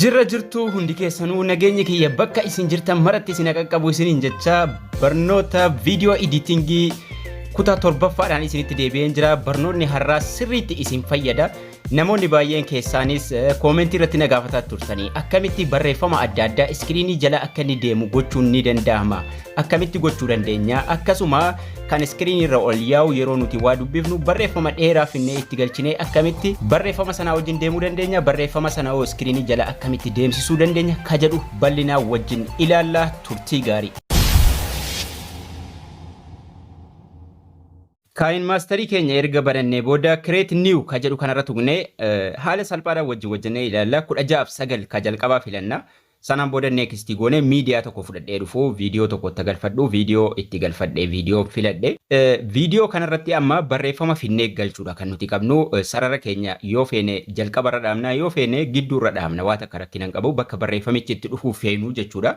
Jirra jirtuu hundi keessanuu nageenyi kiyya bakka isin jirtan maratti isin qaqqabu isiniin jecha barnoota viidiyoo editingii kutaa torbaffaadhaan isinitti deebi'een jira barnoonni har'aa sirriitti isin fayyada. Namoonni baay'een keessaanis koomentii irratti na gaafataa turtanii akkamitti barreeffama adda addaa iskiriinii jala akka inni deemu gochuun ni danda'ama akkamitti gochuu dandeenya akkasuma kan iskiriinii irra ol yaa'u yeroo nuti waa dubbifnu barreeffama dheeraa finnee itti galchinee akkamitti barreeffama sanaa wajjin deemuu dandeenya barreeffama sana hoo iskiriinii jala akkamitti deemsisuu dandeenya ka jedhu bal'inaa wajjin ilaallaa turtii gaarii. Kaayinmaastarii keenya erga banannee booda Create New ka jedhu kanarra tuqnee haala salphaadhaan wajjin hojjennee ilaalla. 16 fi 9 ka jalqabaa filanna. Sanaan booda Next goonee miidiyaa tokko fudhadhee dhufu, viidiyoo tokko itti galfadhu, viidiyoo itti galfadhe, viidiyoo filadhe. Viidiyoo kanarratti amma barreeffama finnee galchuudha kan nuti qabnu. Sarara keenya yoo feene jalqabarra dhaabna, yoo feene gidduurra dhaabna. Waa takka rakkina hin qabu. Bakka barreeffamichi itti dhufuu feenu jechuudha.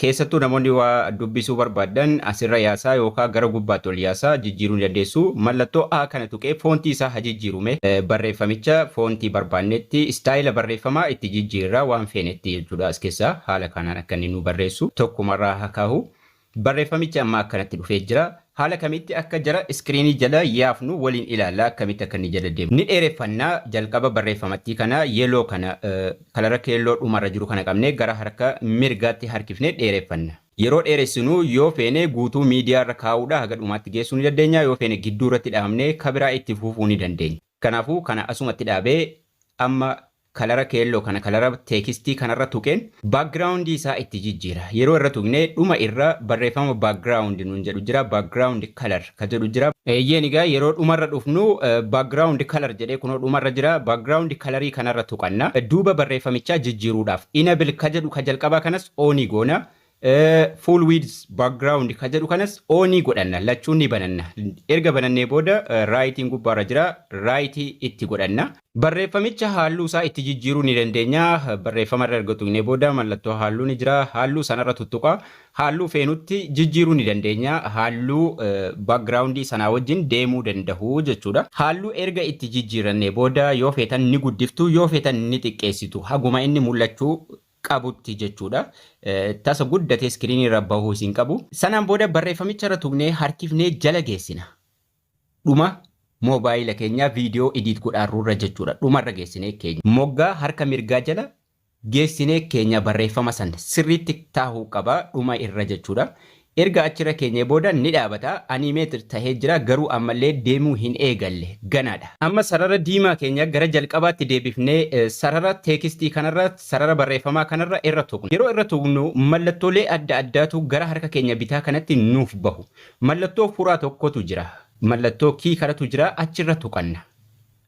Keessattuu namoonni waa dubbisuu barbaaddan asirra yaasaa yookaa gara gubbaatti ol yaasaa jijjiiruu ni dandeessu. Mallattoo A kana tuqee foontii isaa ha jijjiiru mee. Barreeffamicha foontii barbaannetti, istaayila barreeffamaa itti jijjiirra waan feenetti jechuudha as keessaa haala kaanaan akka inni nuu barreessu tokkumarraa ha kaahu. Barreeffamichi amma akkanatti dhufee jira. Haala kamitti akka jara screen jala yaafnu waliin ilaalla akkamitti akka inni jala deemnu. Ni dheereffanna jalqaba barreeffamattii kana yellow kana kalara keelloo dhuma irra jiru kana qabnee gara harka mirgaatti harkifnee dheereffanna. Yeroo dheeressinu yoo feene guutuu miidiyaa irra kaa'uudha haga dhumaatti geessuu ni dandeenya yoo feene gidduu irratti dhaabnee kabiraa itti fufuu ni dandeenya. Kanaafuu kana asumatti dhaabee amma kalara keelloo kana kalara teekistii kanarra tuqeen background isaa itti jijjiira. Yeroo irra tuqne dhuma irra barreeffama background nuun jedhu jira, background color ka jedhu jira. Eeyyeen egaa yeroo dhumarra dhufnu background color jedhee kunoo dhumarra jira. Background color kanarra tuqanna. Duuba barreeffamichaa jijjiiruudhaaf enable ka jedhu ka jalqabaa kanas on goona. Full width background kan jedhu kanas on ni godhanna lachuun ni bananna erga banannee booda raayitiin gubbaarra jira raayitii itti godhanna. Barreeffamicha haalluu isaa itti jijjiiruu ni dandeenya barreeffama irra erga tuqnee booda mallattoo haalluu ni jira haalluu sanarra tuttuqa haalluu feenutti jijjiiruu ni dandeenya haalluu background sanaa wajjin deemuu dandahu jechuudha. Haalluu erga itti jijjiirannee booda yoo feetan ni guddiftu yoo feetan ni xiqqeessitu haguma inni mul'achuu qabutti jechuudha. Tasa guddatee iskiriinii irra bahuus hin qabu. Sanaan booda barreeffamicha irra tuqnee harkifnee jala geessina. Dhuma moobaayila keenyaa viidiyoo idiit godhaarru irra jechuudha. Dhuma irra geessinee keenya. Moggaa harka mirgaa jala geessinee keenya barreeffama san sirriitti taahuu qaba dhuma irra jechuudha. Erga achirra keenyee booda ni dhaabata. Animated tahee jira, garuu ammallee deemuu hin eegalle. Ganaadha. Amma sarara diimaa keenya gara jalqabaatti deebifnee sarara teekistii kanarra, sarara barreeffamaa kanarra irra tuqna. Yeroo irra tuqnu mallattoolee adda addaatu gara harka keenya bitaa kanatti nuuf bahu. Mallattoo furaa tokkotu jira. Mallattoo key kanatu jira. Achirra tuqanna.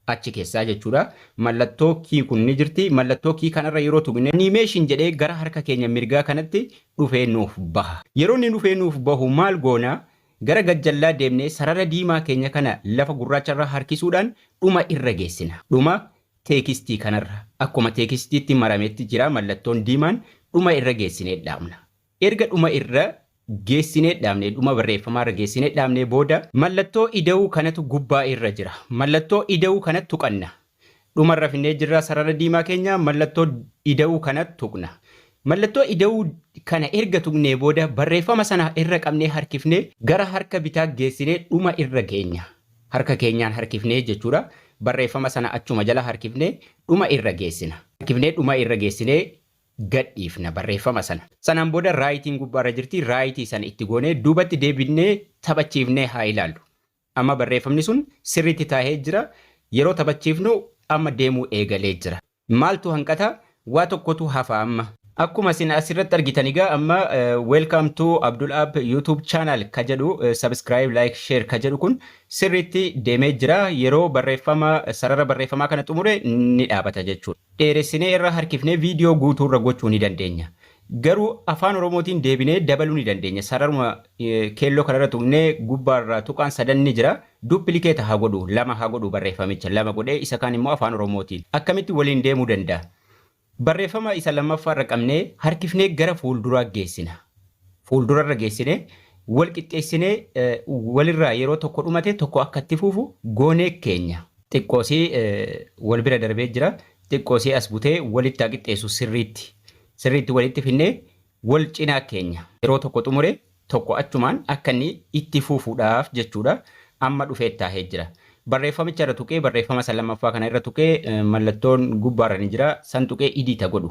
achi keessaa jechuudha. Mallattoo key kun ni jirti. Mallattoo key kanarra yeroo tuqne animation jedhee gara harka keenya mirgaa kanatti dhufee nuuf baha. Yeroo inni dhufee nuuf bahu maal goona? Gara gajjallaa deemnee sarara diimaa keenya kana lafa gurraacharra harkisuudhaan dhuma irra geessina. Dhuma teekistii kanarra akkuma teekistiitti marametti jira mallattoon diimaan dhuma irra geessinee dhaabna. Erga dhuma irra geessinee dhaabnee, dhuma barreeffamaa irra geessinee dhaabnee booda, mallattoo ida'uu kanatu gubbaa irra jira. Mallattoo ida'uu kana tuqanna. Dhuma irra finnee jirra sarara diimaa keenya, mallattoo ida'uu kana tuqna. Mallattoo ida'uu kana erga tuqnee booda, barreeffama sana irra qabnee harkifnee gara harka bitaa geessinee dhuma irra geenya. Harka keenyaan harkifnee jechuu dha. Barreeffama sana achuma jala harkifnee dhuma irra geessina. Harkifnee dhuma irra geessinee gadhiifna barreeffama sana. Sanaan booda Writing gubbaarra jirti, Write sana itti goonee duubatti deebifnee taphachiifnee haa ilaallu. Amma barreeffamni sun sirriitti taahee jira, yeroo taphachiifnu amma deemuu eegalee jira. Maaltu hanqata? Waa tokkotu hafa amma. Akkuma isin as irratti argitan egaa amma Welcome to Abdul App YouTube Channel ka jedhu Subscribe, Like, Share ka jedhu kun sirriitti deemee jira. Yeroo barreeffama, sarara barreeffamaa kana xumure ni dhaabata jechuudha. dheeressinee irra harkifnee video guutuu irra gochuu ni dandeenya. Garuu Afaan Oromootiin deebinee dabaluu ni dandeenya. Sararuma keelloo kana irra tuqnee gubbaa irraa tuqaan sadan ni jira. Duplicate haa godhuu, lama haa godhuu barreeffamicha. Lama godhee isa kaan immoo Afaan Oromootiin. Akkamitti waliin deemuu danda'a? Barreeffama isa lammaffaa irra qabnee harkifnee gara fuulduraa geessina. Fuuldura irra geessinee wal qixxeessinee walirraa yeroo tokko dhumate tokko akka itti fufu goonee keenya. Xiqqoo isii wal bira darbee jira. Xiqqoo isii as butee walitti haa qixxeessu sirriitti. Sirriitti walitti finnee wal cinaa keenya. Yeroo tokko xumure tokko achumaan akka inni itti fufuudhaaf jechuudha. Amma dhufee itti taahee jira. Barreeffamicha irra tuqee barreeffama isa lammaffaa kana irra tuqee mallattoon gubbaarra ni jira. San tuqee Edit haa godhu.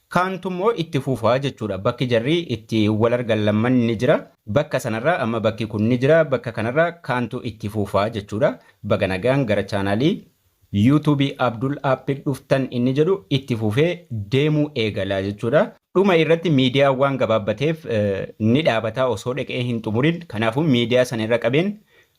Kaantu immoo itti fufa jechuudha. Bakki jarri itti wal argan lamman ni jira. Bakka sanarraa amma bakki kun ni jira. Bakka kanarraa kaantu itti fufa jechuudha. Baga nagaan gara chaanaalii YouTube Abdul App dhuftan inni jedhu itti fufee deemuu eegala jechuudha. Dhuma irratti miidiyaa waan gabaabbateef ni dhaabataa osoo dhaqee hin xumurin. Kanaafuu miidiyaa sana irra qabeen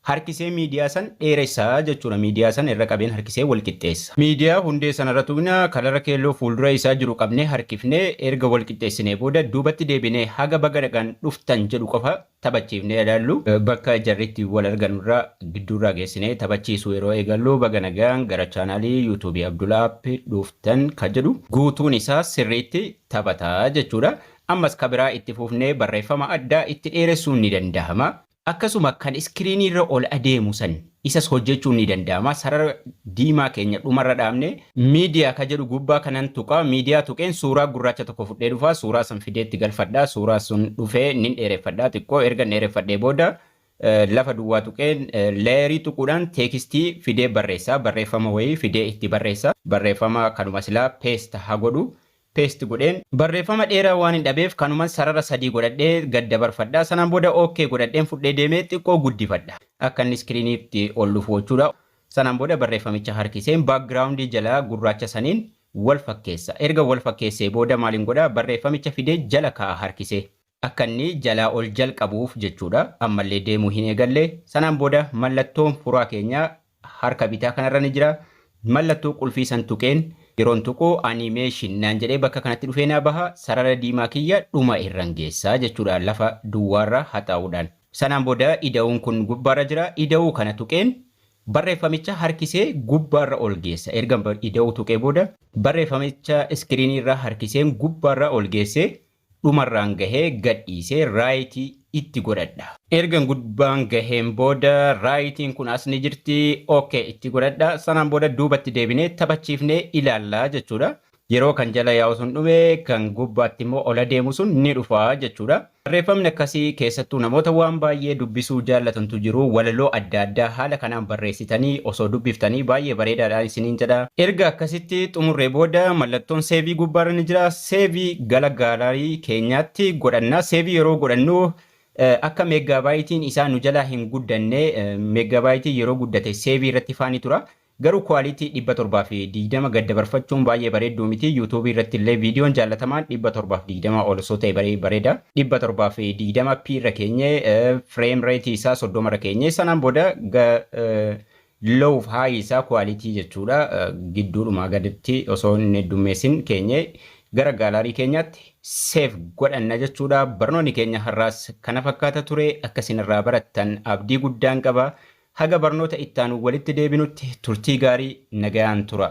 Harkisee miidiyaa san dheeressa jechuudha. Miidiyaa san irra qabeen harkisee wal qixxeessa. Miidiyaa hundee sanarra tuqna, kalara keelloo fuuldura isaa jiru qabnee harkifnee erga wal qixxeessinee booda duubatti deebinee haga baga nagaan dhuftan jedhu qofa taphachiifnee ilaallu. Bakka jarri itti wal arganu irra gidduurraa geessinee taphachiisuu yeroo eegallu baga nagaan gara chaanaalii YouTube Abdul App dhuftan ka jedhu guutuun isaa sirriitti taphata jechuudha. Ammas ka biraa itti fufnee barreeffama addaa itti dheeressuun ni dandahama. Akkasuma kan iskiriinii irra ol adeemu san isas hojjechuun ni danda'ama. Sarara diimaa keenya dhuma irra dhaabnee. Media ka jedhu gubbaa kanan tuqa. Media tuqeen suuraa gurraacha tokko fudhee dhufa. Suuraa san fidee itti galfadha. Suuraa sun dhufee nin dheereffadha xiqqoo. Ergan dheereffadhee booda lafa duwwaa tuqeen layer tuquudhaan teekistii fidee barreessa. Barreeffama wayii fidee itti barreessa. Barreeffama kanuma silaa paste ha godhu. paste godhe. Barreeffama dheeraa waanin dhabeef kanuman sarara sadii godhadhee gad dabarfadha. Sanaan booda OK godhadheen fudhee deeme xiqqoo guddifadha. Akka inni screen'tti ol dhufu gochuudha. Sanaan booda barreeffamicha harkiseen background jala gurraacha saniin wal fakkeessa. Erga wal fakkeessee booda maalin godha barreeffamicha fidee jala kaa'a harkisee. Akka inni jalaa ol jalqabuuf jechuudha. Ammallee deemuu hin eegalle. Sanaan booda mallattoon furaa keenyaa harka bitaa kanarra ni jira. Mallattoo qulfii san tuqeen. Yeroon tuqu Animation naan jedhee bakka kanatti dhufee naa baha. Sarara diimaa kiyya dhuma irran geessa jechuudha lafa duwwaarra haxaa'uudhaan. Sanaan booda ida'uun kun gubbaarra jira. Ida'uu kana tuqeen barreeffamicha harkisee gubbaarra ol geessa. Ergan ida'uu tuqee booda barreeffamicha iskiriiniirra harkiseen gubbaarra ol geessee dhumarraan gahee gadhiise right itti godhadha. Ergan gubbaan gaheen booda right-n kun as ni jirti ok itti godhadha. Sanaan booda duubatti deebinee taphachiifnee ilaalla jechuudha. Yeroo kan jala yaa'u sun dhume kan gubbaatti immoo ol adeemu sun ni dhufa jechuudha. Barreeffamni akkasii keessattuu namoota waan baay'ee dubbisuu jaallatantu jiru. Walaloo adda addaa haala kanaan barreessitanii osoo dubbiftanii baay'ee bareedaadha isiniin jedha. Erga akkasitti xumurree booda mallattoon save gubbaarra ni jira. Save gala gallery keenyaatti godhanna. Save yeroo godhannu akka meeggaabaaytiin isaa nu jalaa hin guddanne meeggaabaaytiin yeroo guddate save irratti faani tura. Garuu quality 720 gad dabarfachuun baay'ee bareedduu miti. YouTube irratti illee viidiyoon jaallatamaan 720 ol osoo ta'e baree bareeda. 720p irra keenye frame rate isaa 30 irra keenye sanaan booda Low fi high isaa quality jechuudha gidduudhumaa gaditti osoo hin heddummeessin keenyee gara gaalaarii keenyaatti save godhanna jechuudha. Barnoonni keenya har'aas kana fakkaata ture akka isin irraa barattan abdii guddaan qaba. Haga barnoota itti aanu walitti deebinutti turtii gaarii nagayaan tura.